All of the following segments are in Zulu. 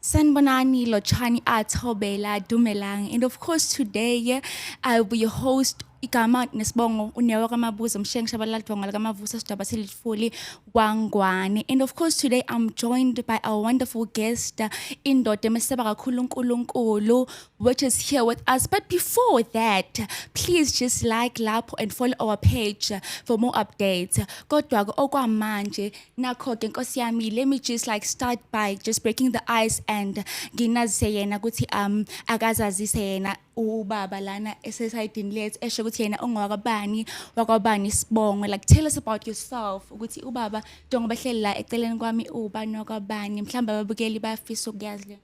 Sanbonani, Lochani, Atobela, Dumelang. And of course, today yeah, I will be your host, igama nesibongo unewa kamabuza mshengi shabalala dvonga likamavusa sidaba selitfuli kwangwane and of course today i'm joined by our wonderful guest indoda emeseba kakhulu unkulunkulu which is here with us but before that please just like lapho and follow our page for more updates kodwa-ke okwamanje oh, nakho-ke nkosi yami let me just like start by just breaking the ice and nginazise yena ukuthi um akazazise yena ubaba lana esesayidini lethu esho ukuthi yena ongowakabani wakwabani sibongo like tell us about yourself ukuthi ubaba njengoba hleli la eceleni kwami ubani wakwabani mhlawumbe ababukeli bayafisa ukuyazi le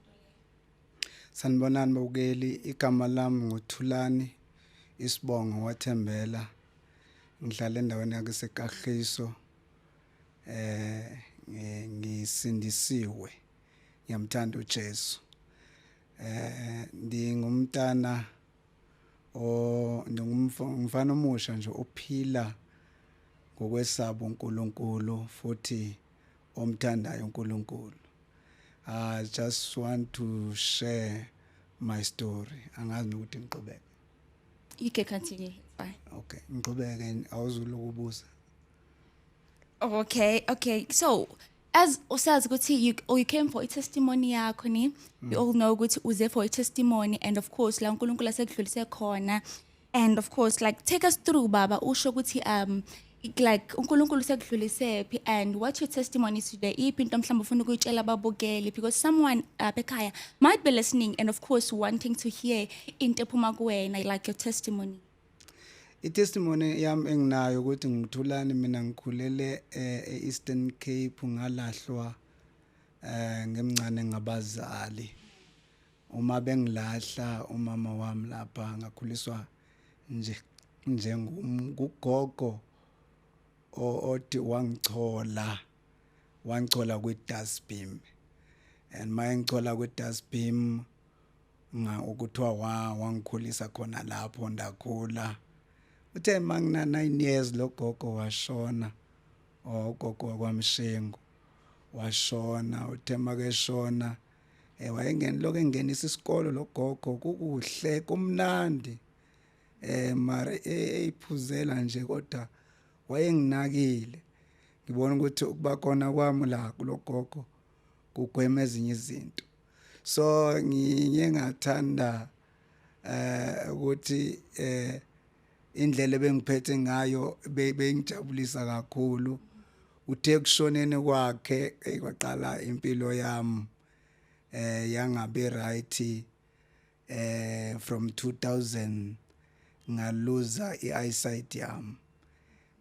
sanibonani babukeli igama lami nguthulani isibongo wathembela ngihlala endaweni yakesekahiso eh ngisindisiwe ngiyamthanda uJesu eh ndingumntana o ndingumfana omusha nje ophila ngokwesaba uNkulunkulu futhi omthandayo uNkulunkulu i just want to share my story angazi nokuthi ngiqhubeke you can continue bye okay ngiqhubeke awuzulokubuza Okay, okay. So as usazi ukuthi you, oh, you came for i-testimony yakho ni mm. you all know ukuthi uze for i-testimony and of course la uNkulunkulu asekudlulise khona and of course like take us through baba usho ukuthi um like uNkulunkulu sekudlulise phi and what your testimony today iphi into mhlawumbe ufuna ukuyitshela ababukeli because someone up uh, ekhaya might be listening and of course wanting to hear into ephuma kuwena like your testimony itestimony yam enginayo ukuthi ngithulani mina ngikhulele eh, e-eastern cape ngalahlwa eh ngemncane ngabazali uma bengilahla umama wami lapha ngakhuliswa nje njengugogo othi wangichola wangichola kwi-dustbin and mayengichola kwi-dustbin nga ukuthiwa wa wangikhulisa khona lapho ndakhula uthe mangina 9 years logogo washona ogogo wakwamshengu washona uthe makeshona eh wayengeni lokho engenisa isikolo logogo kukuhle kumnandi eh mari eyiphuzela nje kodwa wayenginakile ngibona ukuthi ukuba khona kwami la kulogogo kugwema ezinye izinto so ngiye ngathanda eh ukuthi eh indlela ebengiphethe ngayo bengijabulisa kakhulu uthe kushonene kwakhe kwaqala impilo yami eh yangabe right eh from 2000 ngaluza ieyesight yami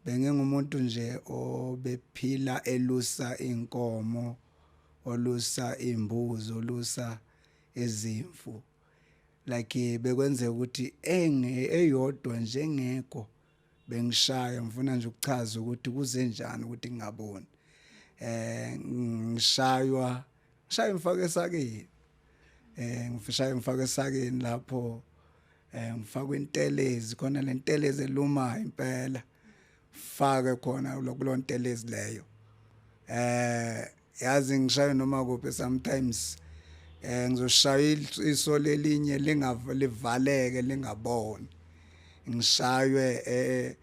bengingumuntu nje obephila elusa inkomo olusa imbuzi olusa ezimfu like bekwenzeka ukuthi enge eyodwa njengekho bengishaya ngifuna nje ukuchaza ukuthi kuze njani ukuthi ngingaboni eh ngishaywa shaye ngifake esakeni eh ngifishaye ngifake esakeni lapho eh ngifakwe intelezi khona lentelezi eluma impela fake khona lokulontelezi leyo eh yazi ngishaye noma kuphi sometimes eh ngizoshaya iso lelinye lingavalivaleke lingaboni ngishaywe eh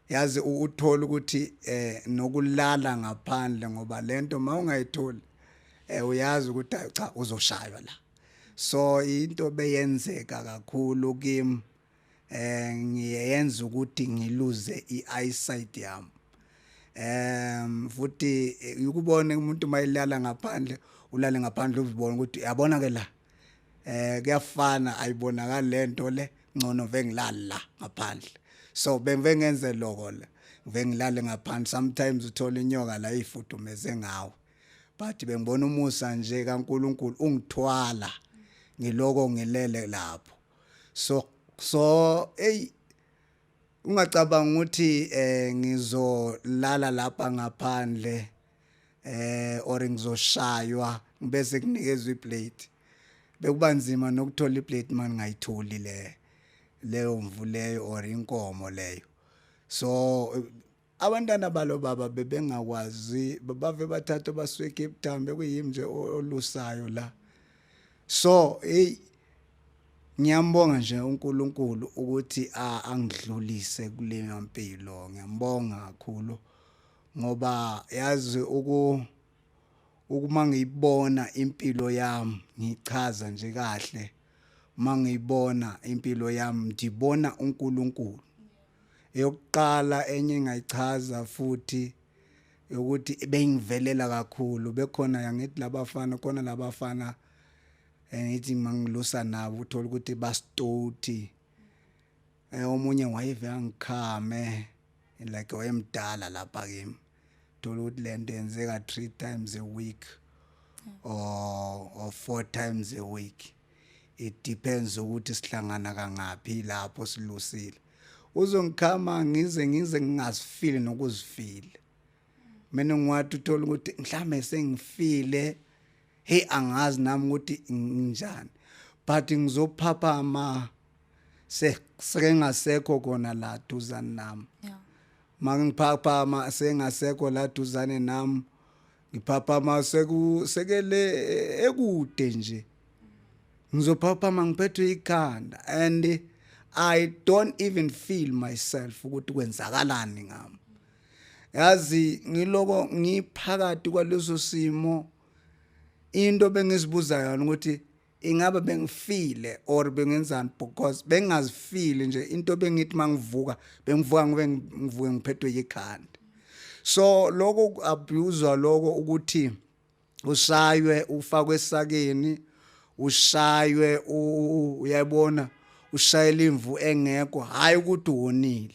yazi uthola ukuthi eh nokulala ngaphandle ngoba lento mawungayitholi eh uyazi ukuthi cha uzoshaywa la so into beyenzeka kakhulu kim eh ngiyenza ukuthi ngiluze i-eyesight yam em futhi eh, ukubona umuntu mayilala ngaphandle ulale ngaphandle uzibona ukuthi yabona ke la eh kuyafana ayibonakali lento le ngcono vengilala ngaphandle so bengenze lokho le vengilale ngaphandle sometimes uthola inyoka la ifudumeze ngawo but bengibona umusa nje kaNkuluNkulu ungithwala ngiloko ngilele lapho so so hey ungacabanga ukuthi eh ngizolala lapha ngaphandle eh or ngizoshaywa ngibese kunikezwe iplate bekuba nzima nokuthola iplate manje ngayitholi le leyo mvu leyo or inkomo leyo so abantwana balo baba bebengakwazi bave bathatha basuke Cape Town bekuyimi nje olusayo la so hey ngiyambonga nje uNkulunkulu ukuthi angidlulise kule mpilo ngiyambonga kakhulu ngoba yazi uku ukuma ngiyibona impilo yami ngichaza nje kahle mangiyibona impilo yami ndibona uNkulunkulu eyokuqala enye engayichaza futhi ukuthi bengivelela kakhulu bekhona yangithi labafana khona labafana eh, ngithi mangilusa nabo uthola ukuthi bastoti eh omunye wayive angikhame like wayemdala lapha kimi thola ukuthi lento yenzeka 3 times a week or or 4 times a week it depends ukuthi sihlangana kangaphi lapho silusile uzongikhama ngize ngize ngingazifili nokuzifile mina ngiwathi uthola ukuthi mhlambe sengifile hey angazi nami ukuthi nginjani but ngizophaphama sekengasekho kona la duzane nami yeah. mangiphaphama sengasekho la duzane nami ngiphaphama seku sekele e, ekude nje ngizophaphama ngiphethwe ikhanda and i don't even feel myself ukuthi kwenzakalani ngami yazi ngiloko ngiphakathi kwaleso simo into bengizibuza yona ukuthi ingabe bengifile or bengenzani because bengingazifili nje into bengithi mangivuka bengivuka ngobe ngivuke ngiphethwe yikhanda so lokho abuse lokho ukuthi ushaywe ufakwe esakeni ushaywe uyabona ushayela imvu engekho hayi ukuthi wonile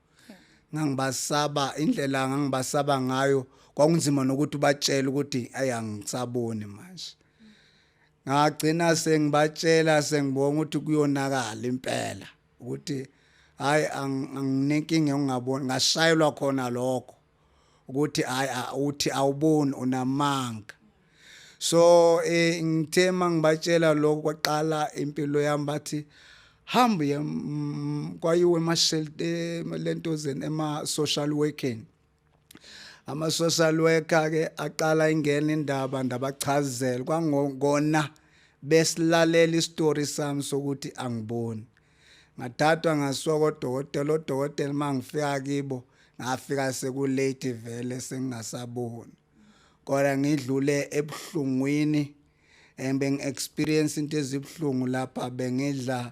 ngangibasaba indlela ngangibasaba ngayo kwakunzima nokuthi ubatshele ukuthi ayi angisaboni manje ngagcina sengibatshela sengibonga ukuthi kuyonakala impela ukuthi hayi anginenkinga ngingaboni ngashayelwa khona lokho ukuthi hayi uthi awuboni unamanga so eh ngithe mangibatshela lokho kwaqala impilo yami bathi hamba ye mm, kwayiwe emashelte lento zen ema social working ama social worker ke aqala ingena indaba ndabachazela kwangona besilalela istory sami sokuthi angiboni ngathathwa ngasuka kodokotela odokotela uma ngifika kibo ngafika sekulate vele sengingasaboni kodwa ngidlule ebuhlungwini and bengi-experience into ezibuhlungu lapha bengidla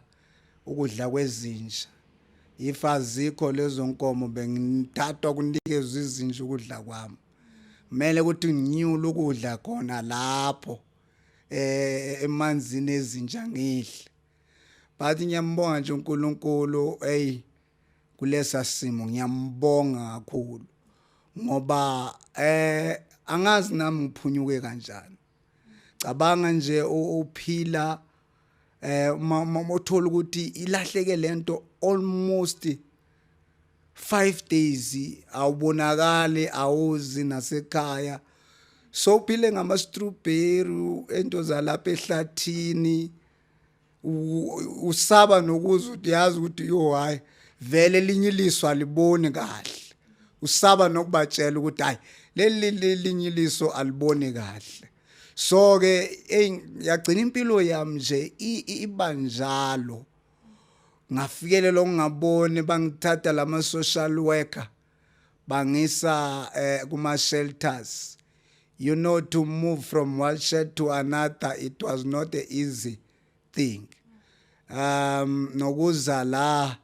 ukudla kwezinja if azikho lezo nkomo bengithathwa kunikezwa izinja ukudla kwami kumele ukuthi nginyule ukudla khona lapho eh emanzini ezinja ngidle but ngiyambonga nje uNkulunkulu hey kulesa simo ngiyambonga kakhulu ngoba eh angazi nami ngiphunyuke kanjani cabanga nje uphila eh uma uthola ukuthi ilahleke lento almost 5 days awubonakali awuzi nasekhaya so phile ngama strawberry ento zalapha ehlathini usaba nokuza ukuthi yazi ukuthi yo hayi vele elinye iliso aliboni kahle usaba nokubatshela ukuthi hayi leli linye iliso aliboni kahle so ke yagcina impilo yami nje ibanjalo ngafikelelo ngingaboni bangithatha lama social worker bangisa eh, kuma shelters you know to move from one shelter to another it was not a easy thing um nokuza la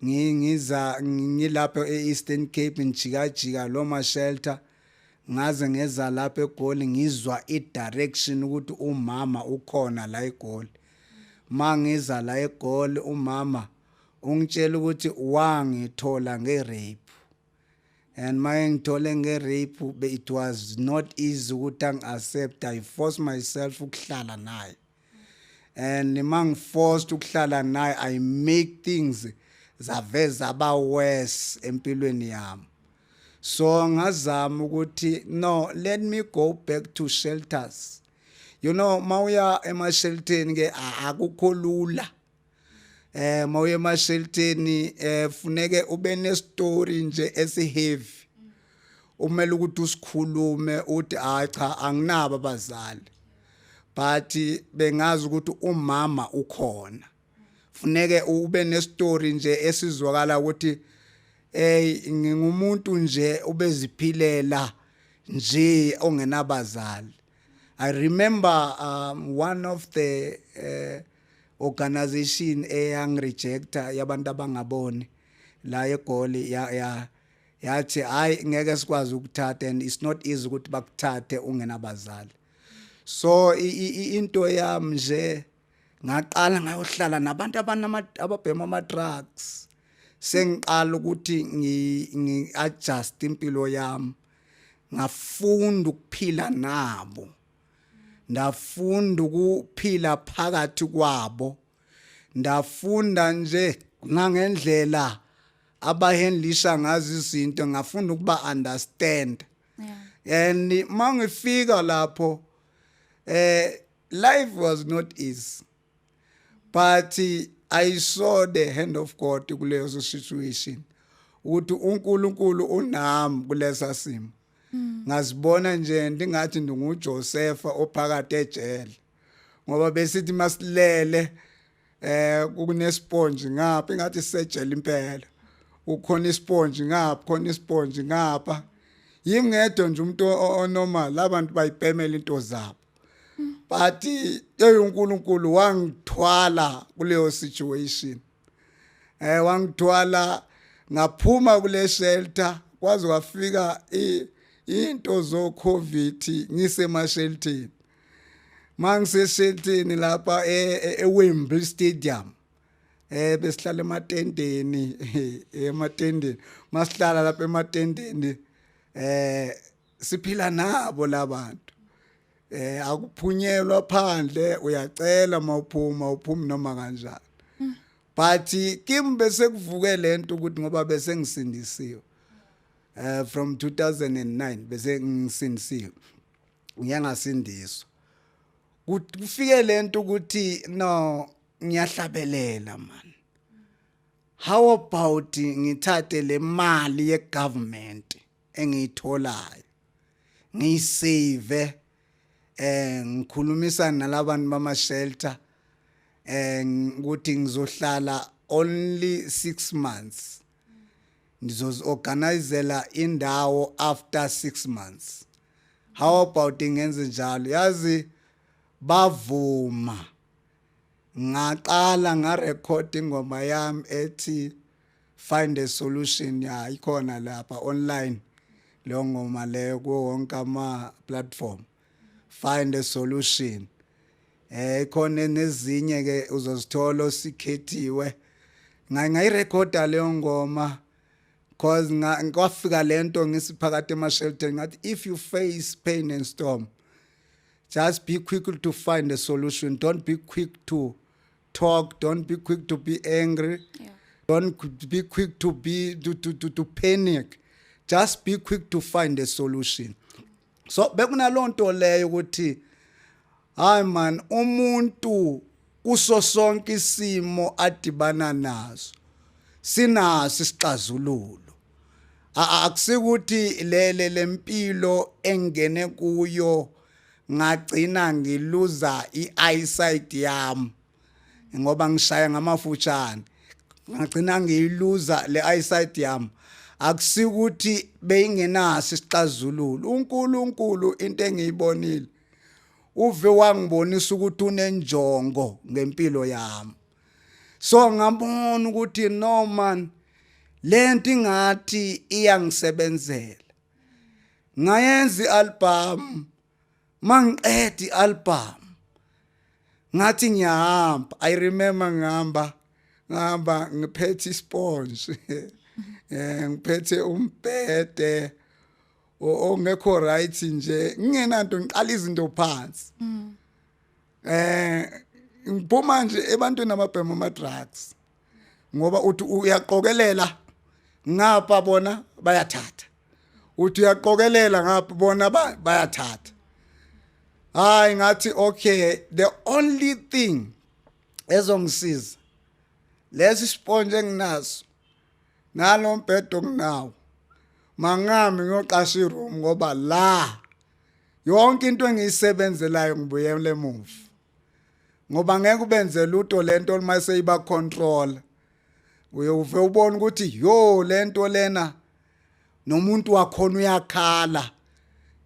ngiza ngilapho eEastern Cape ngijikajika lo ma shelter ngaze ngeza lapha egoli ngizwa i direction ukuthi umama ukhona la egoli mangiza la egoli umama ungitshela ukuthi wangithola nge-rape and maye ngithole nge-rape be it was not easy ukuthi angi-accept i force myself ukuhlala naye and ma ngiforced ukuhlala naye i make things zaveza aba worse empilweni yami so ngazama ukuthi no let me go back to shelters you know mawuya emashelteni ke akukho lula eh mawuye emashelteni eh funeke ube ne story nje esiheavy umele ukuthi usikhulume uthi hayi cha anginabo abazali but bengazi ukuthi umama ukhona funeke ube ne story nje esizwakala ukuthi hey ngingumuntu nje ubeziphilela nje ongenabazali i remember um, one of the uh, organization eyang rejecta yabantu abangaboni la egoli ya ya yathi hayi ngeke sikwazi ukuthatha and it's not easy ukuthi bakuthathe ungenabazali so into yami nje ngaqala ngayohlala nabantu ababhema ama-drugs sengiqala ukuthi ngi-adjust impilo yami ngafunda ukuphila nabo ndafunda ukuphila phakathi kwabo ndafunda nje ngangendlela abahendlisa ngazo izinto ngafunda ukuba understand yeah. and mangifika lapho eh life was not easy but i saw the hand of god kuleyo situation ukuthi uNkulunkulu unami kulesa simo mm. ngazibona nje ndingathi ndinguJosefa ophakathi ejele ngoba besithi masilele eh kunesponge ngapha ingathi sejele impela ukhona isponge ngapha khona isponge ngapha yimi ngedwa nje umuntu onormal abantu bayipemela into zabo but eyonkulunkulu wangithwala kuleyo situation eh wangithwala ngaphuma kule shelter kwaze kwafika into zo covid ngisema sheltini mangisesheltini lapha e, e, eWembley Stadium eh besihlala ematendeni ematendeni masihlala lapha ematendeni eh siphila nabo labantu eh akuphunyelwa phandle uyacela mawuphuma uphumi noma kanjani but kimi bese kuvuke lento ukuthi ngoba bese ngisindisiwe eh from 2009 bese ngisindisiwe ngiyangasindiswa kufike lento ukuthi no ngiyahlabelela man how about ngithathe le mali ye government engiyitholayo ngiyisave eh ngikhulumisa nalabantu bama shelter eh ukuthi ngizohlala only 6 months ndizoziorganizela indawo after 6 months how about ngenze njalo yazi bavuma ngaqala nga record ingoma yami ethi find a solution ya ikhona lapha online leyo ngoma leyo kuwo wonke ama platform find a solution eh ikhona nezinye ke uzozithola osikhethiwe ngayirecorda leyo ngoma cause ngikwafika lento ngisiphakathi emashelter ngathi if you face pain and storm just be quick to find a solution don't be quick to talk don't be quick to be angry yeah. don't be quick to be to, to, to, to panic just be quick to find a solution so bekunalonto leyo ukuthi hayi man umuntu kuso sonke isimo adibana naso sinaso isixazululo akusikuthi lele lempilo engene kuyo ngagcina ngiluza i-eyesight yami ngoba ngishaya ngamafutshane ngagcina ngiyiluza le eyesight yami akusikuthi beyingenaso isixazululo uNkulunkulu into engiyibonile uve wangibonisa ukuthi unenjongo ngempilo yami so ngabona ukuthi no man lento ingathi iyangisebenzela ngayenza ialbum mangiqeda ialbum ngathi ngiyahamba i remember ngihamba ngihamba ngiphethe isponge eh ngiphethe umbhede ongekho right nje ngingenanto ngiqala izinto phansi mm. eh ngiphuma nje ebantwini ababhema ama drugs ngoba uthi uyaqokelela ngapha bona bayathatha uthi uyaqokelela ngapha bona bayathatha hayi ngathi okay the only thing ezongisiza lesi sponge enginaso nalo mbhedo nginawo mangami ngiyoqasha iroom ngoba la yonke into engiyisebenzelayo ngibuyele emuva ngoba ngeke ubenze luto lento uma seyiba control uyowuve ubona ukuthi yo lento lena nomuntu wakhona uyakhala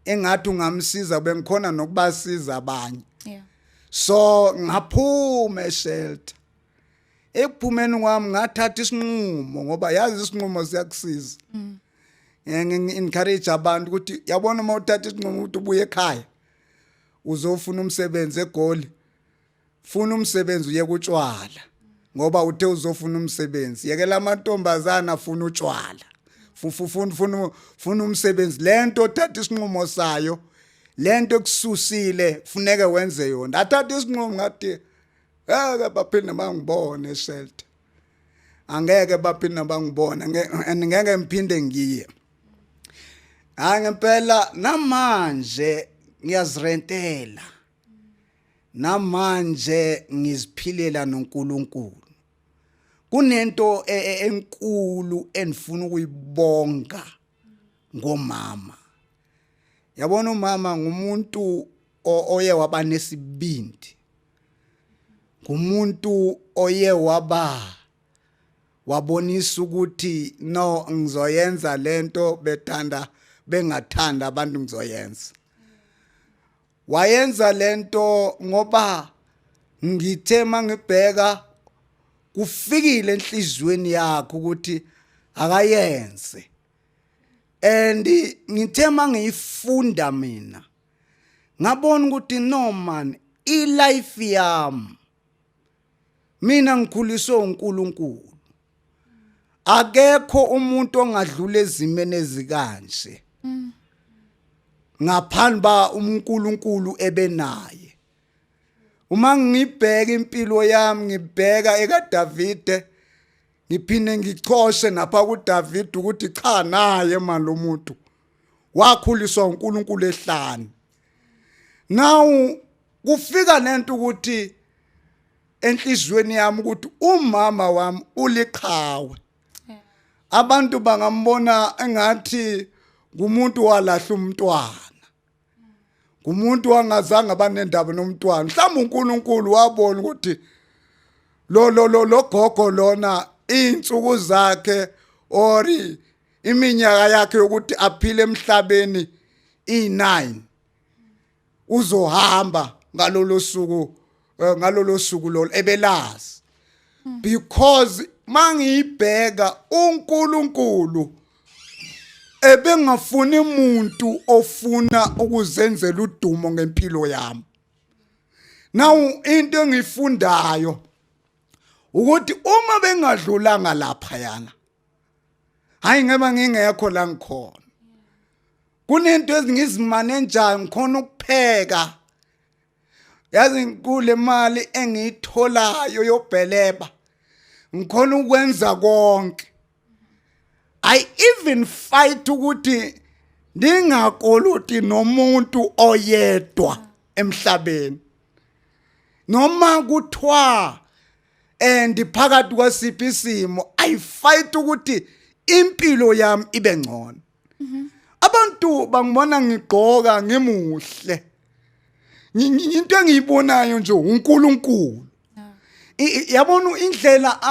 engathi ungamsiza bengikhona nokubasiza abanye so ngaphume eshelter ekuphumeni kwami ngathatha isinqumo ngoba yazi isinqumo siyakusiza mm. encourage abantu ukuthi yabona uma uthatha isinqumo ukuthi ubuye ekhaya uzofuna umsebenzi egoli funa umsebenzi uye kutshwala ngoba uthe uzofuna umsebenzi yekela amantombazana afuna utshwala fufufuna funa funa umsebenzi lento othatha isinqumo sayo lento ekususile funeke wenze yona athatha isinqumo ngathi ngeke baphinde bangibone shelter angeke baphinde bangibone and ngeke ngiphinde ngiye hayi ngempela namanje ngiyazirentela namanje ngiziphilela noNkulunkulu kunento e, e, enkulu endifuna ukuyibonga ngomama yabona umama ngumuntu oye waba nesibindi ngumuntu oye waba wabonisa ukuthi no ngizoyenza lento bethanda bengathanda abantu ngizoyenza wayenza lento ngoba ngithe mangibheka kufikile enhlizweni yakhe ukuthi akayenze and ngithe mangiyifunda mina ngabona ukuthi no man i life yami mina ngikhuliswe uNkulunkulu akekho umuntu ongadlula ezimene ezikanje ngaphandle ba uNkulunkulu ebenaye uma ngibheka impilo yami ngibheka ekaDavide ngiphinde ngichoshe napha kuDavide ukuthi cha naye manje lomuntu wakhuliswa uNkulunkulu ehlani now kufika nento ukuthi enhlizweni yami ukuthi umama wami uliqhawe abantu bangambona engathi ngumuntu walahla umntwana ngumuntu wangazange abanendaba nomntwana mhlawumbe uNkulunkulu wabona ukuthi lo lo lo logogo lona insuku zakhe ori iminyaka yakhe yokuthi aphile emhlabeni i9 uzohamba ngalolo suku eh, ngalolo suku lolo ebelazi hmm. because mangiyibheka uNkulunkulu ebengafuni umuntu ofuna ukuzenzela udumo ngempilo yami now into engifundayo ukuthi uma bengadlulanga lapha yana hayi ngeba ngingekho la ngikhona kunento ezingizimane njani ngikhona ukupheka yazi kule mali engiyitholayo yobheleba ngikhona ukwenza konke i even fight ukuthi ndingakoloti nomuntu oyedwa emhlabeni noma kuthiwa and phakathi kwasiphi isimo i fight ukuthi impilo yami ibe ngcono mhm. abantu bangibona ngigqoka ngimuhle into engiyibonayo nje uNkulunkulu yabona indlela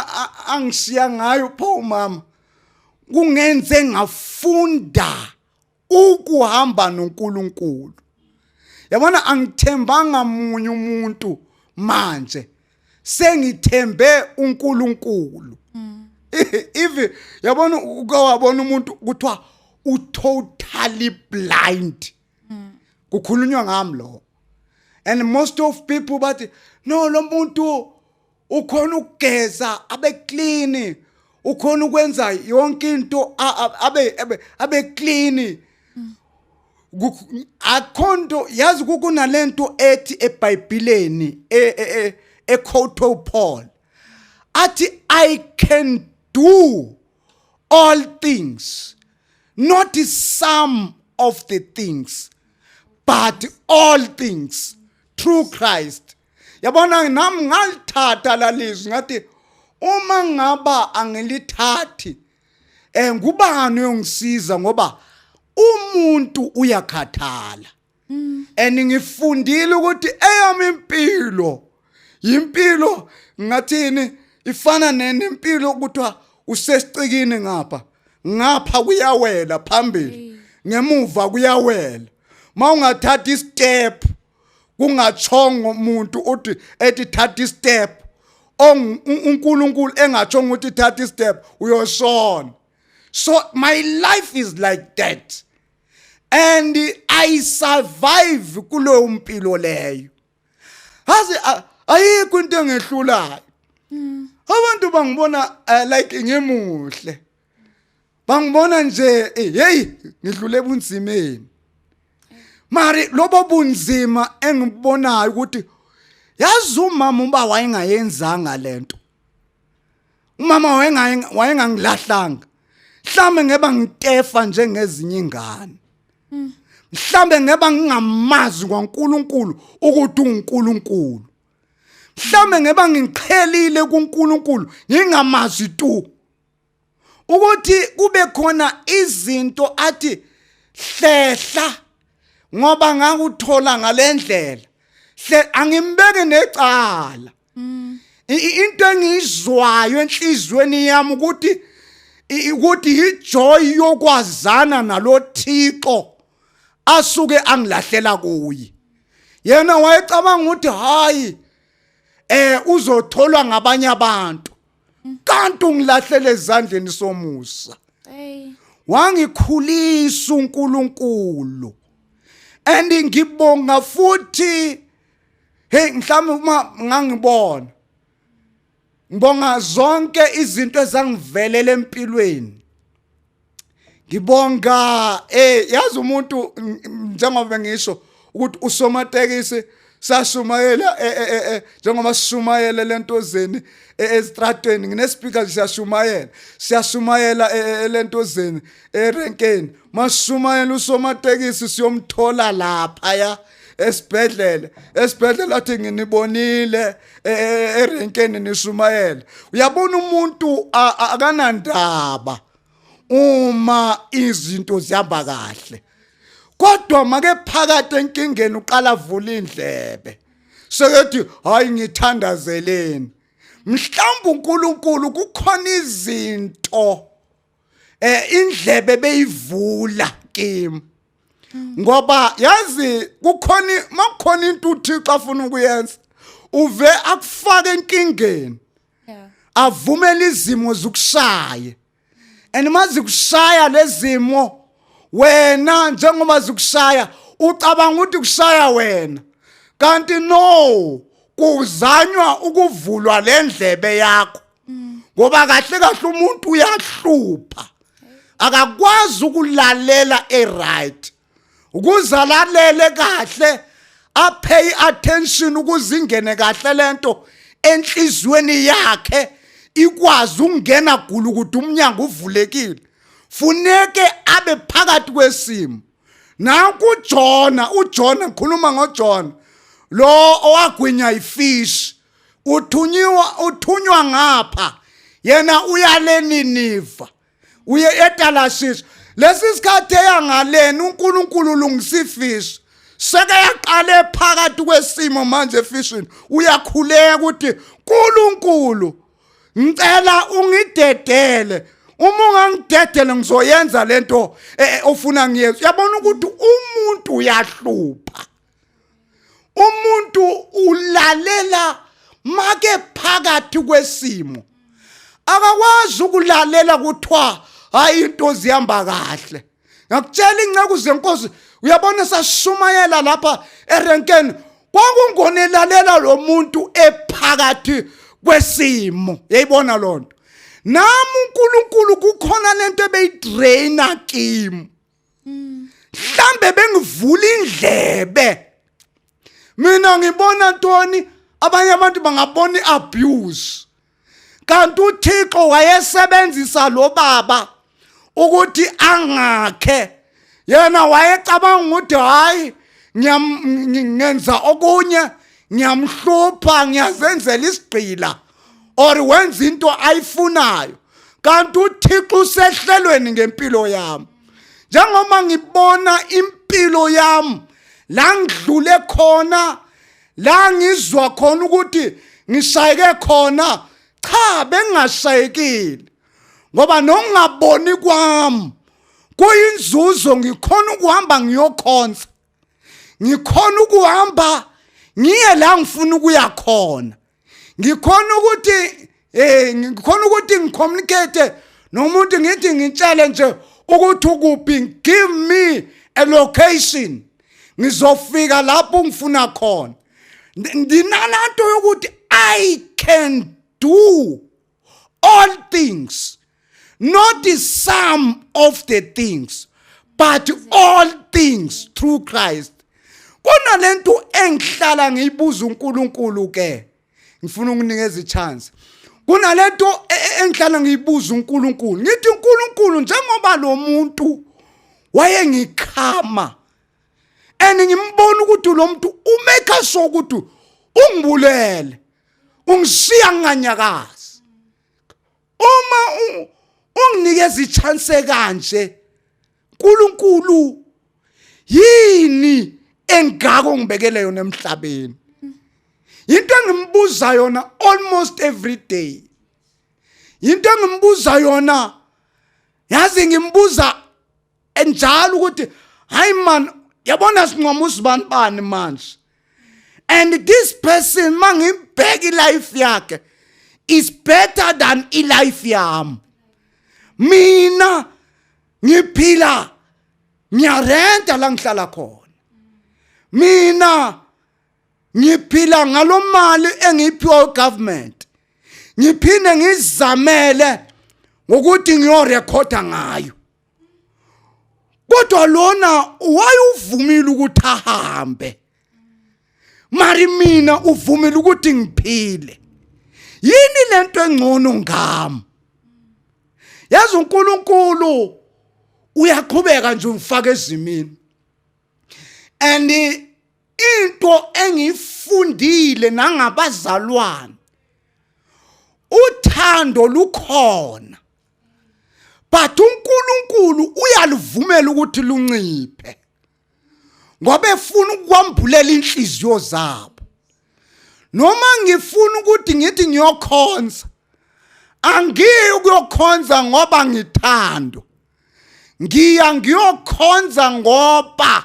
angishiya ngayo pho mama kungenze ngafunda ukuhamba noNkulunkulu yabona angithembanga munye umuntu manje sengithembe uNkulunkulu mm. if yabona uke wabona umuntu kuthiwa u totally blind mm. kukhulunywa ngami lo and most of people bathi no lo muntu ukhona ukugeza abe clean ukhona ukwenza yonke into abe abe clean akhonto yazi kukunalento ethi eBhayibheleni e, e, e, ekhotho Paul athi i can do all things not some of the things but all things through Christ yabona nami ngalithatha lalizwi ngathi uma ngaba angilithathi eh ngubani uyongisiza ngoba umuntu uyakhathala mm. and ngifundile ukuthi eyami impilo yimpilo ngathini ifana nempilo kuthiwa usesicikini ngapha ngapha kuyawela phambili ngemuva kuyawela mawungathatha istep kungatshongo umuntu uthi ethi thatha istep uNkulunkulu engatshongo ukuthi thatha istep uyoshona so my life is like that and i survive kuleyo mpilo leyo hazi ayikho into engehlulayo hmm. abantu bangibona eh, like ngimuhle bangibona nje eh, hey ngidlule bunzimeni mari lobo bunzima engibonayo ukuthi yazi umama uba wayengayenzanga lento umama wayengangilahlanga mhlambe ngeba ngitefa njengezinye ingane mhlambe ngeba ngingamazi kwaNkuluNkulu ukuthi uNkuluNkulu mhlambe ngeba ngiqhelile kuNkuluNkulu ngingamazi tu ukuthi kube khona izinto athi hlehla ngoba ngakuthola ngalendlela hle angimbeke necala mm. into engizwayo enhlizweni yami ukuthi ukuthi yijoy yokwazana nalothixo asuke angilahlela kuye yena wayecabanga ukuthi hayi eh uzotholwa ngabanye abantu kanti ungilahlele ezandleni somusa Ey. wangikhulisa uNkulunkulu and ngibonga futhi hey mhlawumbe uma ngangibona ngibonga zonke izinto ezangivelela empilweni ngibonga eh yazi umuntu njengoba ngisho ukuthi usomatekisi sashumayela eh, eh, eh, njengoba sishumayela lentozeni ezitratweni nginespeaker siyashumayela siyashumayela lentozeni erenkeni mashumayela usomatekisi siyomthola lapha ya esibhedlela esibhedlela athi nginibonile e, e, erenkeni nishumayela uyabona umuntu akanandaba uma izinto zihamba kahle kodwa make phakathi enkingeni uqala vula indlebe sekethi hayi ngithandazeleni mhlawumbe uNkulunkulu kukhona izinto eh indlebe beyivula kimi ngoba yazi kukhona makukhona into uThixo afuna ukuyenza uve akufake enkingeni yeah. avumele izimo zikushaye and uma zikushaya lezimo wena njengoba zikushaya ucabanga ukuthi kushaya wena kanti no kuzanywa ukuvulwa lendlebe yakho ngoba kahle kahle umuntu uyahlupha akakwazi ukulalela eright ukuzalalele kahle apay attention ukuzingene kahle lento enhlizweni yakhe ikwazi ukungena gulu ukuthi umnyango uvulekile funeke abe phakathi kwesimo nanku uJona uJona ngikhuluma ngoJona lo owagwinya ifish uthunyiwa uthunywa ngapha yena uyale niniva uye etalashiso lesi sikhathi eyangaleni uNkulunkulu ulungisifiso seke yaqale phakathi kwesimo manje efishini uyakhuleka ukuthi uNkulunkulu ngicela ungidedele uma ungangidedele ngizoyenza lento eh, ofuna ngiyenze uyabona ukuthi umuntu uyahlupha umuntu ulalela make phakathi kwesimo akakwazi ukulalela kuthiwa hayi into zihamba kahle ngakutshela inceku zenkosi uyabona sashumayela lapha erenkeni kwakungonelalela lo muntu ephakathi kwesimo yayibona loo nto nami unkulunkulu kukhona le nto ebeyidraina kimi mhlambe bengivula indlebe mina ngibona ntoni abanye abantu bangabona iabuse kanti uThixo wayesebenzisa lo baba ukuthi angakhe yena wayecabanga ukuthi hayi ngenza okunye ngiyamhlupha ngiyazenzela isigqila or wenza into ayifunayo kanti uThixo usehlelweni ngempilo yami njengoba ngibona impilo yami la ngidlule khona la ngizwa khona ukuthi ngishayeke khona cha bengashayekile ngoba nokungaboni kwami kuyinzuzo ngikhona ukuhamba ngiyokhonza ngikhona ukuhamba ngiye la ngifuna ukuya khona ngikhona ukuthi eh ngikhona ukuthi ngicommunicate nomuntu ngithi ngitshele nje ukuthi ukuphi give me a location ngizofika lapho ngifuna khona ndinananto yokuthi i can do all things not some of the things but all things through Christ kunalento engihlala ngiyibuza uNkulunkulu ke ngifuna ukunikeza ichance kunalento e, e, engihlala ngiyibuza uNkulunkulu ngithi uNkulunkulu njengoba lo muntu wayengikhama and ngimbona ukuthi lo muntu umeka sure ukuthi ungibulele ungishiya nginganyakazi uma unginikeza ichance kanje uNkulunkulu yini engako ngibekele yona emhlabeni into engimbuza yona almost every day into engimbuza yona yazi ngimbuza enjalo ukuthi hayi man yabona sincoma usibani bani manje and this person mangibheka ilife yakhe is better than ilife yami mina ngiphila ngiyarenta la ngihlala khona mina ngiphila ngalomali engiyiphiwa ugovernment ngiphinde ngizamele ngokuthi ngiyorekhoda ngayo kodwa lona wayuvumile ukuthi ahambe mari mina uvumile ukuthi ngiphile yini lento engcono ngami yazi uNkulunkulu uyaqhubeka nje umfaka ezimini and into engifundile nangabazalwane uthando lukhona but uNkulunkulu uyaluvumela ukuthi lunciphe ngoba efuna ukwambulela inhliziyo zabo noma ngifuna ukuthi ngithi ngiyokhonza angiyi ukuyokhonza ngoba ngithando ngiya ngiyokhonza ngoba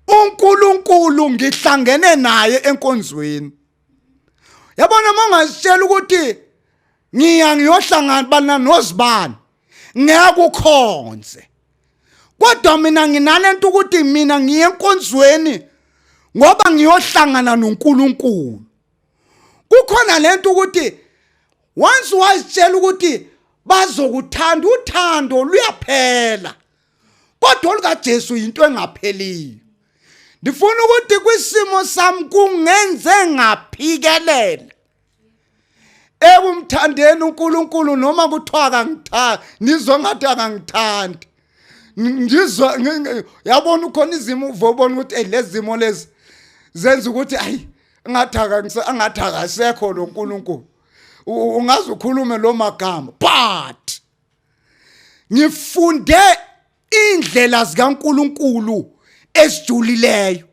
uNkulunkulu ngihlangene naye enkonzweni yabona mangazitshela ukuthi ngiya ngiyohlangana bana nozibani ngeke ukhonze kodwa mina nginalento ukuthi mina ngiye enkonzweni ngoba ngiyohlangana noNkulunkulu kukhona lento ukuthi once wazitshela ukuthi bazokuthanda uthando luyaphela kodwa olukaJesu yinto engapheliyo ndifuna ukuthi kwisimo sami kungenze ngaphikelela ekumthandeni uNkulunkulu noma kuthiwa akangithandi ngizwa ngathi akangithandi ngizwa yabona ukhona izimo uvobona ukuthi hey lezimo lezi zenza ukuthi ayi ngathi akangise angathi akasekho lo nkulunkulu ungaze ukhulume lo magama but ngifunde indlela zikaNkuluNkulu esijulileyo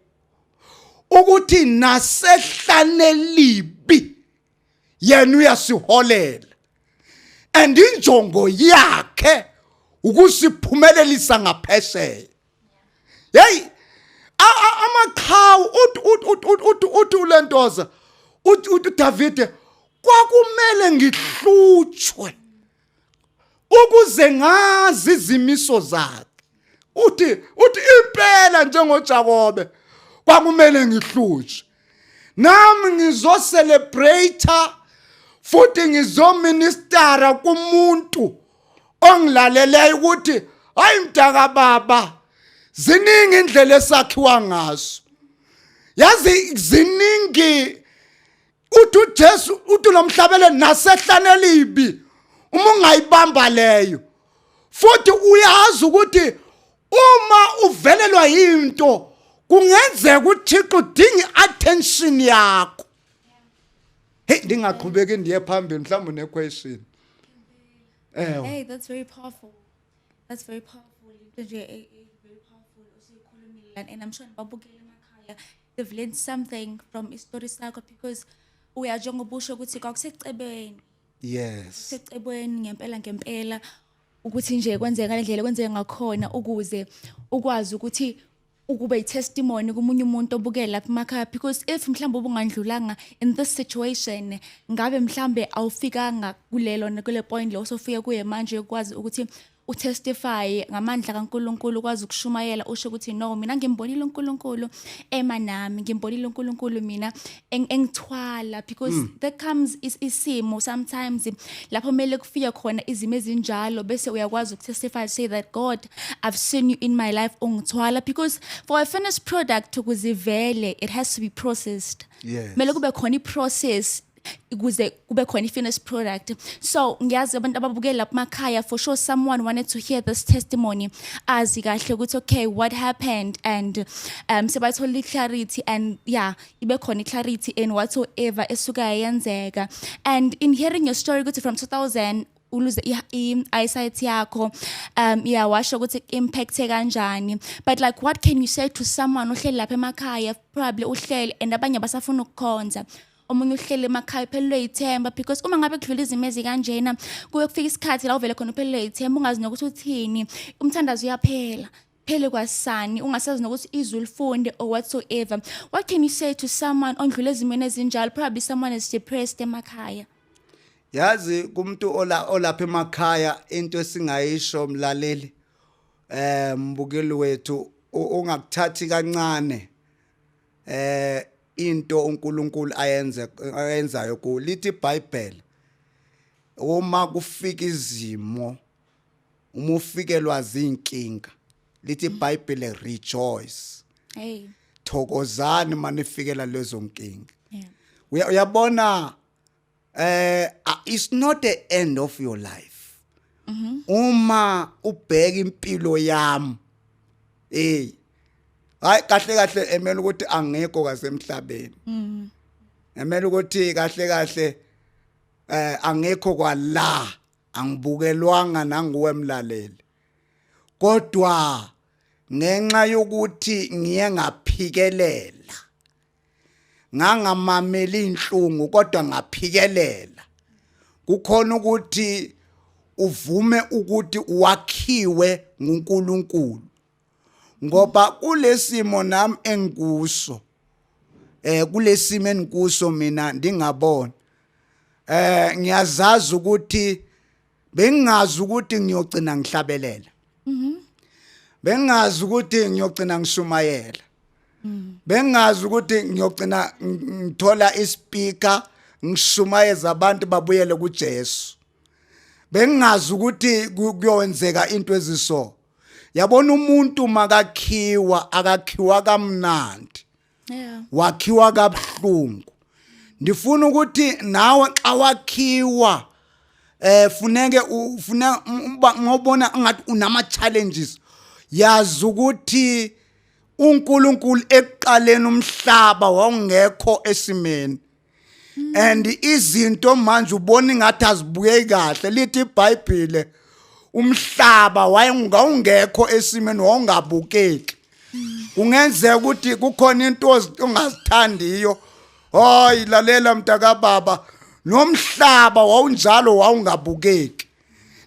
ukuthi nasehlane libi yena uyasiholela and injongo yakhe ukusiphumelelisa ngaphesheya hey amaqhawu uthi uthi ulentoza uthi uDavide kwakumele ngihlutshwe ukuze ngazi izimiso zakhe uthi uthi impela njengoJakobe kwakumele ngihlutshwe nami ngizocelebrate futhi ngizoministera kumuntu ongilaleleyo ukuthi hayi mdaka baba ziningi indlela esakhiwa ngaso yazi ziningi uthi uJesu uthi nomhlabele nasehlane elibi uma ungayibamba leyo futhi uyazi ukuthi uma uvelelwa into kungenzeka uThixo udinga iattention yakho hey ndingaqhubeki ndiye phambili mhlawumbe ne question eh hey that's very powerful that's very powerful into nje eh, eh, very powerful usikhulumile and i'm sure babukele emakhaya I've learned something from isitori sakho because uya njengoba usho ukuthi kwakusecebeni yes secebweni ngempela ngempela ukuthi nje kwenzeka ngale ndlela kwenzeka ngakhona ukuze ukwazi ukuthi ukube yitestimony kumunye umuntu obukela lapha emakhaya because if mhlawumbe ubungandlulanga in this situation ngabe mhlawumbe awufikanga kulelo kule point leyo osofike kuye manje ukwazi ukuthi utestify ngamandla kaNkuluNkulu kwazi ukushumayela usho ukuthi no mina ngimbonile uNkuluNkulu ema nami ngimbonile uNkuluNkulu mina engithwala because mm. that comes is isimo sometimes lapho mele kufike khona izimo ezinjalo bese uyakwazi ukutestify say that God I've seen you in my life ungithwala because for a finished product ukuzivele it has to be processed yes. mele kube khona iprocess ukuze kube khona i-finished product so ngiyazi abantu ababukeli lapha emakhaya for sure someone wanted to hear this testimony azi kahle ukuthi okay what happened and um sebathola i-clarity and yeah ibe khona i-clarity in whatsoever esuka yenzeka and in hearing your story ukuthi from 2000 uluze i-eyesight yakho um yeah washo ukuthi impact kanjani but like what can you say to someone ohleli lapha emakhaya probably uhleli and abanye basafuna ukukhonza omunye uhleli emakhaya uphelelwe yithemba because uma ngabe kudlula izimo ezikanjena kuye kufika isikhathi la uvele khona uphelelwe yithemba ungazi nokuthi uthini umthandazo uyaphela phele kwasani ungasazi nokuthi izwi lifunde or whatsoever what can you say to someone ondlule ezimweni ezinjalo probably someone is depressed emakhaya yazi kumuntu ola olapha emakhaya into esingayisho mlaleli eh mbukeli wethu ungakuthathi kancane eh into uNkulunkulu ayenze ayenzayo ku lithi iBhayibheli uma kufika izimo uma ufikelwa zinkinga lithi iBhayibheli rejoice hey thokozani manifikela lezo nkinga uyabona eh uh, it's not the end of your life mm -hmm. uma ubheka impilo yami hey hayi kahle kahle emela ukuthi angekho kasemhlabeni mm emela ukuthi kahle kahle eh angekho kwala angibukelwanga nanguwe mlaleli kodwa ngenxa yokuthi ngiye ngaphikelela ngangamameli inhlungu kodwa ngaphikelela kukhona ukuthi uvume ukuthi wakhiwe nguNkulunkulu ngoba kulesimo nami engikuso eh kulesimo engikuso mina ndingabona eh ngiyazazi ukuthi bengingazi ukuthi ngiyogcina ngihlabelela mhm. bengingazi ukuthi ngiyogcina ngishumayela mhm. bengingazi ukuthi ngiyogcina ngithola ispeaker ngishumayeza abantu babuyele kuJesu bengingazi ukuthi kuyowenzeka into eziso yabona umuntu makakhiwa akakhiwa kamnandi yeah wakhiwa kabuhlungu ndifuna ukuthi nawe xa wakhiwa eh funeke ufune ngobona ungathi unama challenges yazi ukuthi uNkulunkulu ekuqaleni umhlaba wawungekho esimeni and izinto manje ubona ingathi azibukeki kahle lithi iBhayibhile umhlaba wayengawungekho esimeni wawungabukeki kungenzeka ukuthi kukhona into ongazithandiyo hayi lalela mntakababa nomhlaba wawunjalo wawungabukeki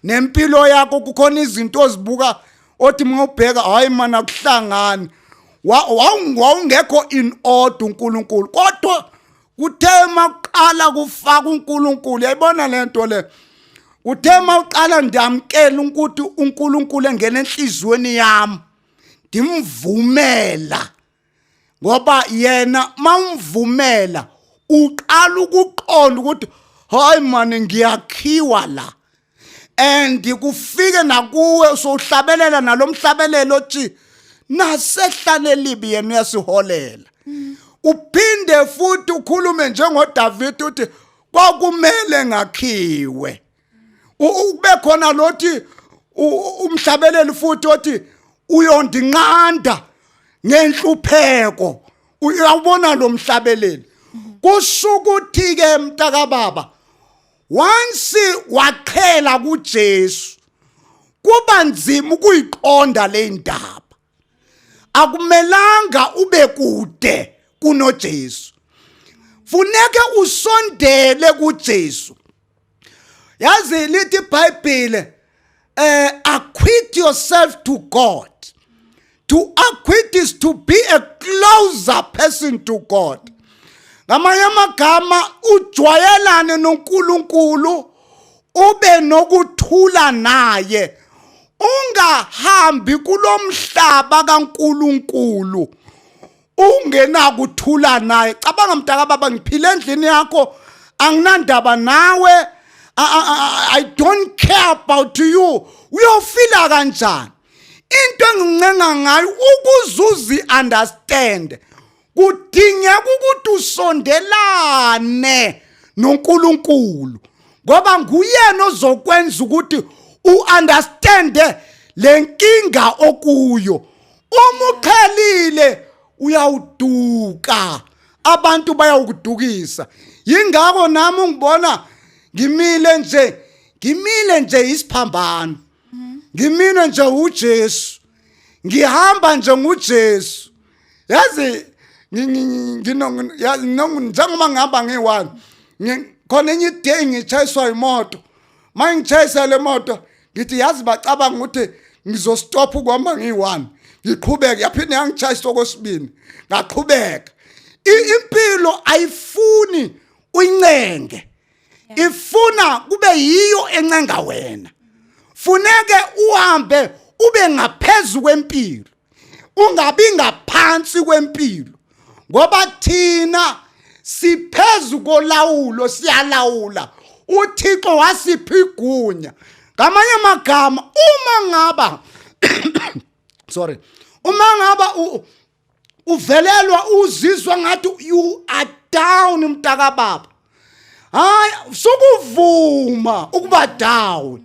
nempilo yakho kukhona izinto ozibuka othi uma ubheka hayi mana kuhlangani wawungekho in order uNkulunkulu kodwa kuthe makuqala kufaka uNkulunkulu yayibona lento le kuthe mawuqala ndiyamkela ukuthi uNkulunkulu engena enhliziyweni yami ndimvumela ngoba yena mawumvumela uqala ukuqonda ukuthi hayi mani ngiyakhiwa la and kufike nakuwe sohlabelela nalomhlabelelo othi nasehlale libi yena uyasiholela uphinde futhi ukhulume njengoDavid uthi kwakumele ngakhiwe ukube khona lothi umhlabeleli futhi othi uyondinqanda ngenhlupheko uyawubona lo mhlabeleli kusho ukuthi ke mntakababa once waqhela kuJesu kuba nzima ukuyiqonda le ndaba akumelanga ube kude kunoJesu funeke usondele kuJesu yazi lithi iBhayibhile eh acquit yourself to God to acquit is to be a closer person to God ngamanye amagama ujwayelane noNkulunkulu ube nokuthula naye ungahambi kulomhlaba kaNkuluNkulu ungenakuthula naye cabanga mntaka baba ngiphile endlini yakho anginandaba nawe I, I, I don't care about you uyofila kanjani into engincenga ngayo ukuzuzi understand kudingeka ukuthi usondelane noNkulunkulu ngoba nguyena ozokwenza ukuthi uunderstande lenkinga okuyo uma uqhelile uyawuduka abantu bayawukudukisa yingakho nami ungibona ngimile nje ngimile nje isiphambano ngimile nje uJesu ngihamba nje nguJesu yazi njengoba ngihamba ngiyi-one khona enye iday ngitshayiswa imoto ma ngitshayisa le moto ngithi yazi bacabanga ukuthi ngizostopha ukuhamba ngiyi-one ngiqhubeke yaphinde yangitshayisa okwesibini ngaqhubeka impilo ayifuni uyincenge ifuna kube yiyo encenga wena funeke uhambe ube ngaphezulu kwempilo ungabi ngaphansi kwempilo ngoba thina siphezu kolawulo siyalawula uthixo wasipha igunya ngamanye amagama uma ngaba sorry uma ngaba uvelelwa uzizwa ngathi you are down mntaka baba hayi sukuvuma ukuba down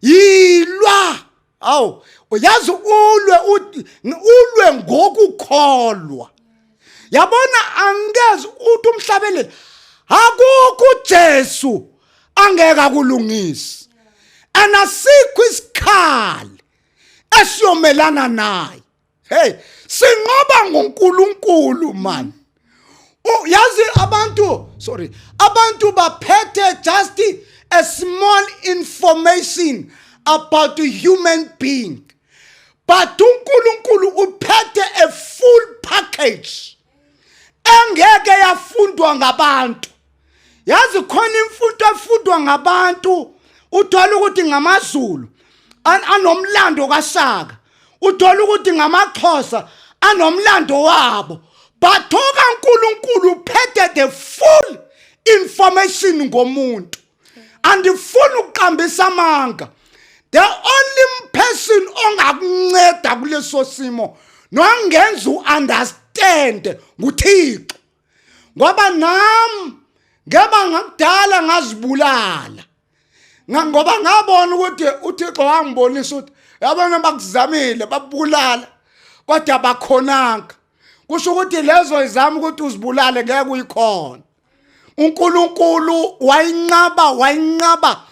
yilwa awu uyazi ulwe ulwe ngokukholwa yabona angeze uthi umhlabelele akukho uJesu angeke akulungise anasikho isikhali esiyomelana naye hey sinqoba ngoNkulunkulu man yazi abantu sorry abantu baphethe just a small information about a human being but uNkulunkulu uphethe a full package engeke yafundwa ngabantu yazi khona imfundo efundwa ngabantu uthola ukuthi ngamazulu anomlando kaShaka uthola ukuthi ngamaXhosa anomlando wabo bathoka uNkulunkulu uphethe the full information ngomuntu andifuni ukuqambisa amanga the only person ongakunceda kuleso simo nongenza uunderstand nguthixo ngoba nam ngeba ngakudala ngazibulala ngoba ngabona ukuthi uthixo wangibonisa ukuthi yabona bakuzamile babulala kodwa bakhonanga kusho ukuthi lezo izama ukuthi uzibulale ngeke uyikhona uNkulunkulu wayinqaba wayinqaba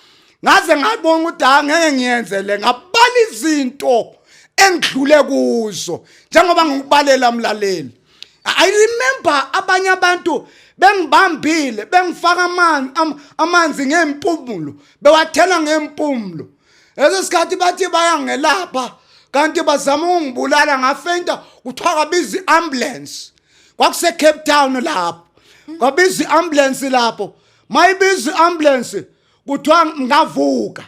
ngaze ngabona ukuthi ha ngeke ngiyenzele ngabala izinto engidlule kuzo njengoba ngikubalela mlaleli i remember abanye abantu bengibambile bengifaka amanzi amanzi ngempumulo bewathela ngempumulo leso sikhathi bathi bayangelapha kanti bazama ukungibulala ngafenta kuthiwa kabiza i-ambulance kwakuse Cape Town lapho kwabiza iambulance lapho mayibiza iambulance kuthiwa ngavuka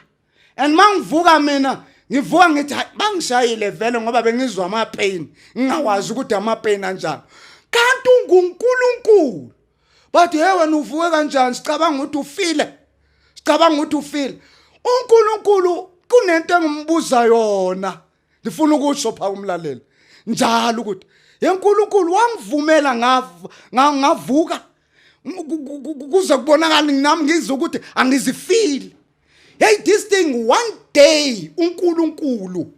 and mangivuka mina ngivuka ngithi bangishayile vele ngoba bengizwa ama pain ngingawazi ukuthi ama pain anjani kanti unguNkulunkulu bathi hey wena uvuke kanjani sicabanga ukuthi ufile sicabanga ukuthi ufile uNkulunkulu kunento engimbuza yona ngifuna ukusho pha umlaleli njalo ukuthi yenkulunkulu wangivumela ngavuka kuze kubonakala nami ngizwe ukuthi angizifili hey this thing one day unkulunkulu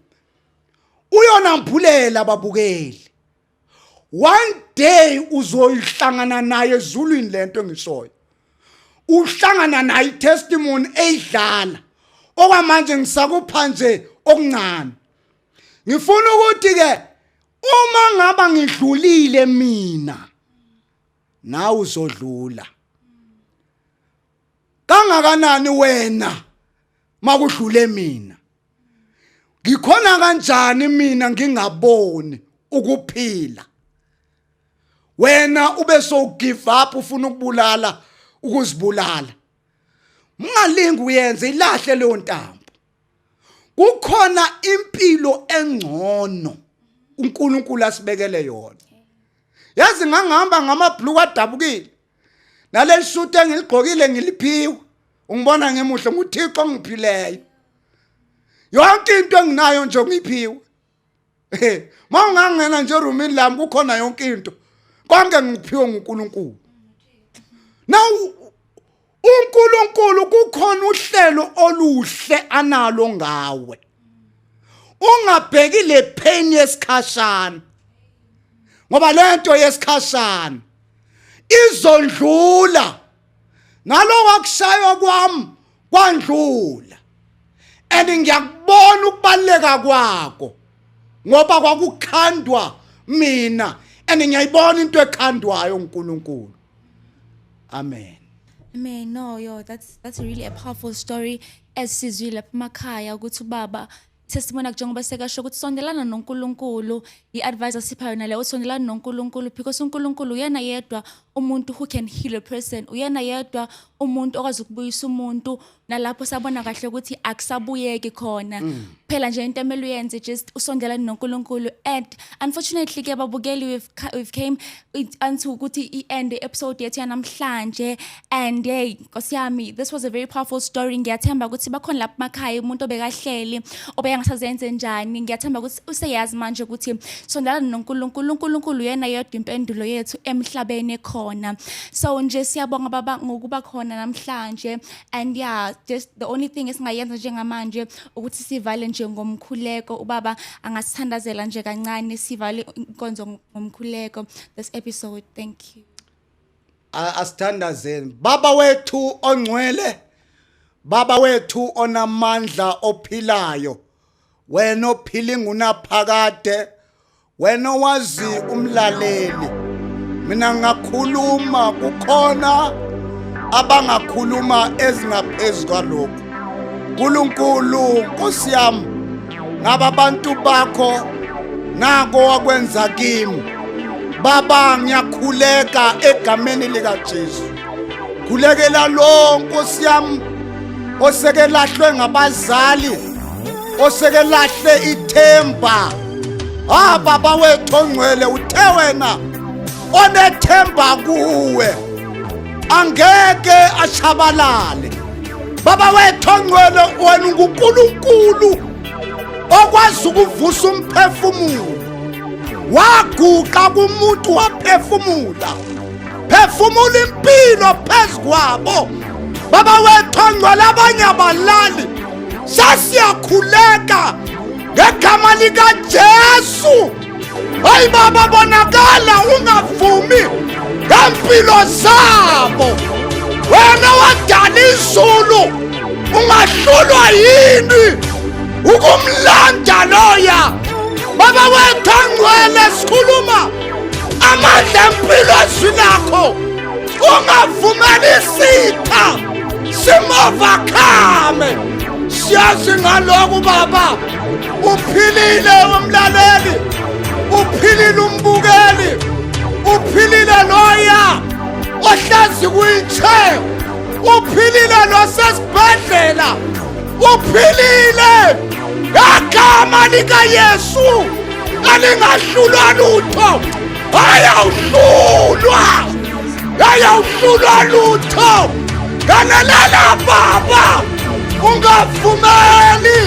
uyona mbhulela babukeli one day uzoyihlangana naye ezulwini lento engishoyo uhlangana naye testimony eyidlala okwamanje ngisakupha nje okuncane ngifuna ukuthi ke uma ngaba ngidlulile mina nawe uzodlula kangakanani wena makudlule mina ngikhona kanjani mina ngingaboni ukuphila wena ube so give up ufuna ukubulala ukuzibulala ungalingi uyenze ilahle leyo ntambo kukhona impilo engcono uNkulunkulu asibekele yona yazi ngangihamba ngamabhlue adabukile naleli suit engiligqokile ngiliphiwe ungibona ngemuhle nguthixo ongiphileyo yonke into enginayo nje ngiphiwe ma ungangena nje erumini lami kukhona yonke into konke ngikuphiwe ngunkulunkulu now unkulunkulu kukhona uhlelo oluhle analo ngawe ungabheki le pain yesikhashana ngoba lento yesikhashana izondlula ngaloko akushaywa kwami kwandlula and ngiyakubona ukubaleka kwako ngoba kwakukhandwa mina and ngiyayibona into ekhandwayo uNkulunkulu amen amen no yo that's that's really a powerful story esizwile lapha emakhaya ukuthi ubaba testimony njengoba sekasho ukuthi sondelana noNkulunkulu i-advice asipha yona leyo sondelana noNkulunkulu because uNkulunkulu uyena yedwa umuntu who can heal a person uyena yedwa umuntu okwazi ukubuyisa umuntu nalapho sabona kahle ukuthi akusabuyeki khona mm. phela nje into emele uyenze just usondelane noNkulunkulu and unfortunately ke babukeli we've, we've came anti ukuthi i-end episode yethu yanamhlanje and hey nkosi yami this was a very powerful story ngiyathemba ukuthi bakhona lapha makhaya umuntu obekahleli obeyangasazenze njani ngiyathemba ukuthi useyazi manje ukuthi sondalana noNkulunkulu uNkulunkulu yena yedwa impendulo yethu emhlabeni ekhona so nje siyabonga baba ngokuba khona namhlanje and yeah just the only thing esingayenza njengamanje ukuthi sivale nje ngomkhuleko ubaba angasithandazela nje kancane sivale inkonzo ngomkhuleko this episode thank you asithandazeni baba wethu ongcwele baba wethu onamandla ophilayo wena ophila ingunaphakade wena owazi umlaleli mina ngakhuluma kukhona abangakhuluma ezingaphezulu kwalokho nkulunkulu nkosi yami ngaba abantu bakho nako wakwenza kimi baba ngiyakhuleka egameni likaJesu khulekela lo nkosi yami oseke lahlwe ngabazali oseke lahle ithemba ha baba wethu ongcwele uthe wena onethemba kuwe angeke ashabalale baba wethu ongcwele wena ungunkulunkulu okwazi ukuvusa umphefumulo waguqa kumuntu waphefumula phefumula impilo phezu kwabo baba wethu ongcwele abanye abalali sasiyakhuleka ngegama likajesu Hayi baba bonakala ungavumi ngempilo zabo. Wena wadala izulu ungahlulwa yini ukumlanda loya baba wethu angcwele sikhuluma amandla empilo ezwi lakho ungavumeli isitha simovakhame siyazi ngalokhu baba uphilile umlaleli uphilile umbukeli uphilile loya ohlazi kwi-chair uphilile losesibhedlela uphilile ngegama likayesu alingahlulwa lutho ayawuhlulwa ayawuhlulwa lutho ngalelela baba ungavumeli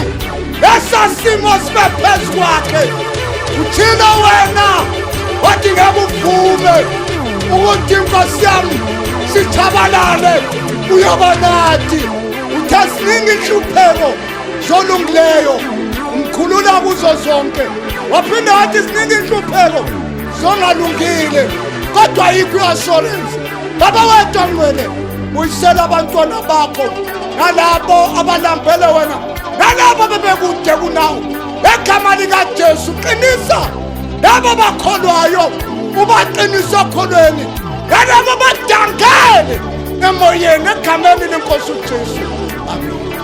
esasimo sibe phezu kwakhe uthina wena wathi ngeke uvume ukuthi inkosi yami sithabalale uyoba nathi uthe siningi inhlupheko zolungileyo umkhulula kuzo zonke waphinde wathi siningi inhlupheko zongalungile kodwa yikho i-assurance baba wedwa ngcwele buyisela abantwana bakho nalabo abalambele wena nalabo bebekude kunawo egama likajesu qinisa labo bakholwayo ubaqinisa okholweni nalabo badangele emoyeni egameni lenkosi ujesu